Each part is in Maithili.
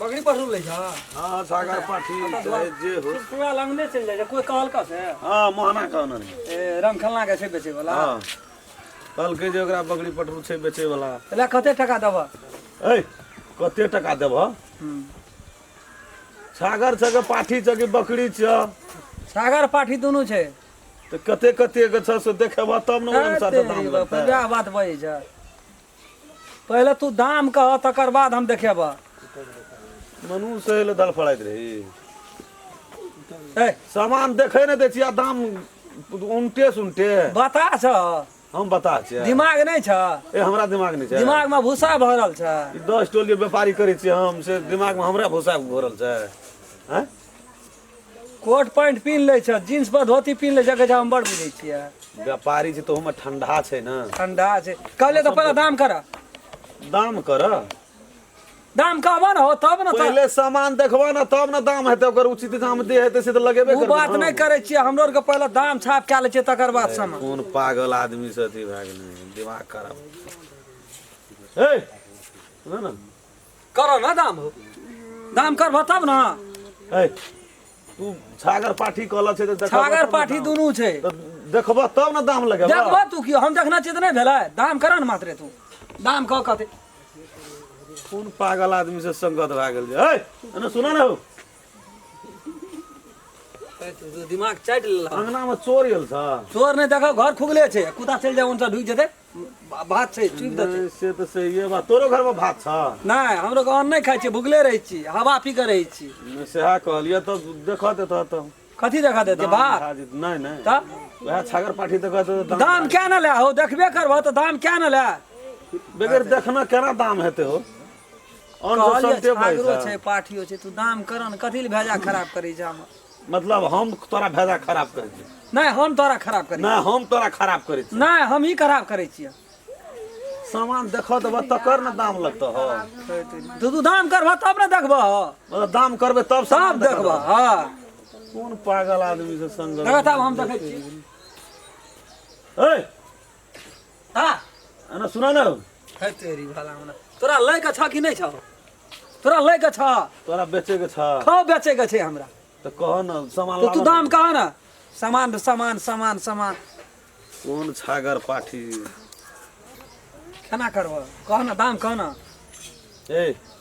बकरी पढ़ू ले जा हाँ सागर पाठी चाहे जे हो पूरा लंगने चल जाए कोई कहल का से हाँ मोहना कहना रही ए रंग खलना के छै बेचे वाला हाँ कल के जे ओकरा बकरी पटरू छै बेचे वाला तले कते टका देबा ए कते टका देब सागर छ के पाठी छ के बकरी छ सागर पाठी दुनू छै तो कते कते के छ से देखेबा तब ने ओहि अनुसार से दाम लगतै वएह बात बजै छै पहिले तू दाम कह तकर बाद हम देखेब मनु से ले दल फड़ाइत रही ए सामान देखे ने दै छी आ दाम उनटे सुनटे बता छ हम बता छियै दिमाग नहि छ ए हमरा दिमाग नहि छै दिमागमे भूसा भरल छ ई दस टोली व्यापारी करै छियै हम से दिमागमे हमरा भूसा भरल छै हैं कोट पैंट पिन्ह लै छह जींस पर धोती पिन्ह लै छह गजा हम बड़ बुझै छियै व्यापारी छै तोहूमे ठंडा छै ने ठंडा छै कहले तऽ पहिले दाम कर दाम कर दाम कहबह ने हो तब ने तऽ पहिले सामान देखबह ने तब ने दाम हेतै ओकर उचित दाम दे हेतै से तऽ लगेबे ओ करबह बात ने। नहि करै छियै हमरो आरके पहिले दाम छाप कए लै छियै तकर बाद सामान कोन पागल आदमी से अथी भए गेलै दिमाग खराब हे सुनऽ ने करो ना दाम हो दाम करबो तब ना ए, तू छागर पाठी कहल छै तऽ देखबह छागर तब ने पाठी दाम। दुनू छै तऽ देखबह तब ने दाम लगेबह देखबो तू की हम देखना चित नहीं भेलै दाम करो ना मात्रे तू दाम कह कहते कोन पागल आदमी से संगत भए गेल छै ए, एने सुना ने हो दिमाग चाटि लेला अंगना में चोर गेल छ चोर नहीं देखो घर खुगले छै कुत्ता चलि जाए उनसे ढुक जेतै बा- भात छै चुपि देतै नहि, से तऽ सहिए बात तोरो घरमे भात छ नहि हमरो गाँव नहि खाइ छियै भुगले रहै छी हवा पी कऽ रहै छी नहि, सएह कहलियै तब देखऽ देतऽ तऽ कथी देखा देतै भात भए जेतै। नहि नहि तऽ वएह छागर पाठी देखऽ देतऽ तऽ दाम दाम क्या न ले हो देखबे करबह तऽ दाम क्या न ले बगैर देखना केना दाम हेतै हो अन्न कहलियै सस्ते पड़ै छागरो छै छै पाठियो छै तू दाम करऽ ने कथी लए भेजा खराब करै छै हमर मतलब हम तोरा फायदा खराब करै छी नहि हम तोरा खराब करै नहि हम तोरा खराब करै छी नहि हम ही खराब करै छियै सामान देखऽ देबऽ तकर ने दाम लगतऽ हो तू तू दाम करबह तब ने देखबह मतलब दाम करबै तब सामान सब देखबह देखबह हँ कोन पागल आदमी से संग देखत आब हम देखै छी ए हाँ अना सुना ना है तेरी भला मना तोरा लै के छा कि नहीं छा तोरा लै के छा तोरा बेचे के छा खा बेचे के छे हमरा तो कह ना सामान तो तू लावा दाम कहा ना सामान सामान सामान सामान कौन छागर पाठी केना करबह कह ना दाम कह ना ए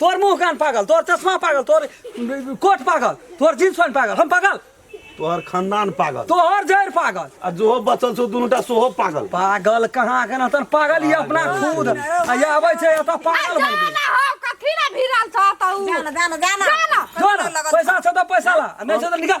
तोर मुंह कान पागल तोर चश्मा पागल तोर कोट पागल तोर जींस पैंट पागल हम पागल तोहर खानदान पागल तोहर जड़ पागल आ जोहो बचल छौ दुनूटा सोहो पागल पागल कहाँ के नतन पागल ये अपना खुद आ ये आबै छै एतऽ पागल बन गेल ना हो कथी ना भिरल छ त उ जाना जाना जाना जाना। जो ना पैसा छौ तऽ पैसा ला आ नहि छौ तऽ निकाल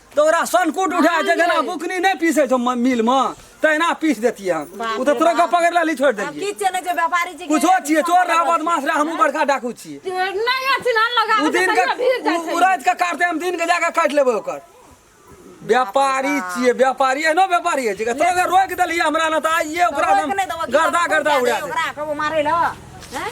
तो ओकरा सनकुट उठा जे जेना बुकनी नहीं पीसे छो म- मिल में तहिना पीस देतिए हम बाप उ तो रे तोरा बाप। पकड़ लाली छोड़ अब देलिए की चले जे व्यापारी जी के- कुछो छिए चोर रहा बदमाश रहा हमहू बड़का डाकू छिए नहीं अथी ना लगा उ दिन के उ- उ रात के काटते हम दिन के जाके काट लेबे ओकर व्यापारी छिए व्यापारी एहनो व्यापारी है जे तोरा रोक देलिए हमरा न त आइए ओकरा रोक हम नहीं देबो, की गर्दा करबो, गर्दा क्या उड़ा देबो दे ओकरा, कबो मारे ला, हैं?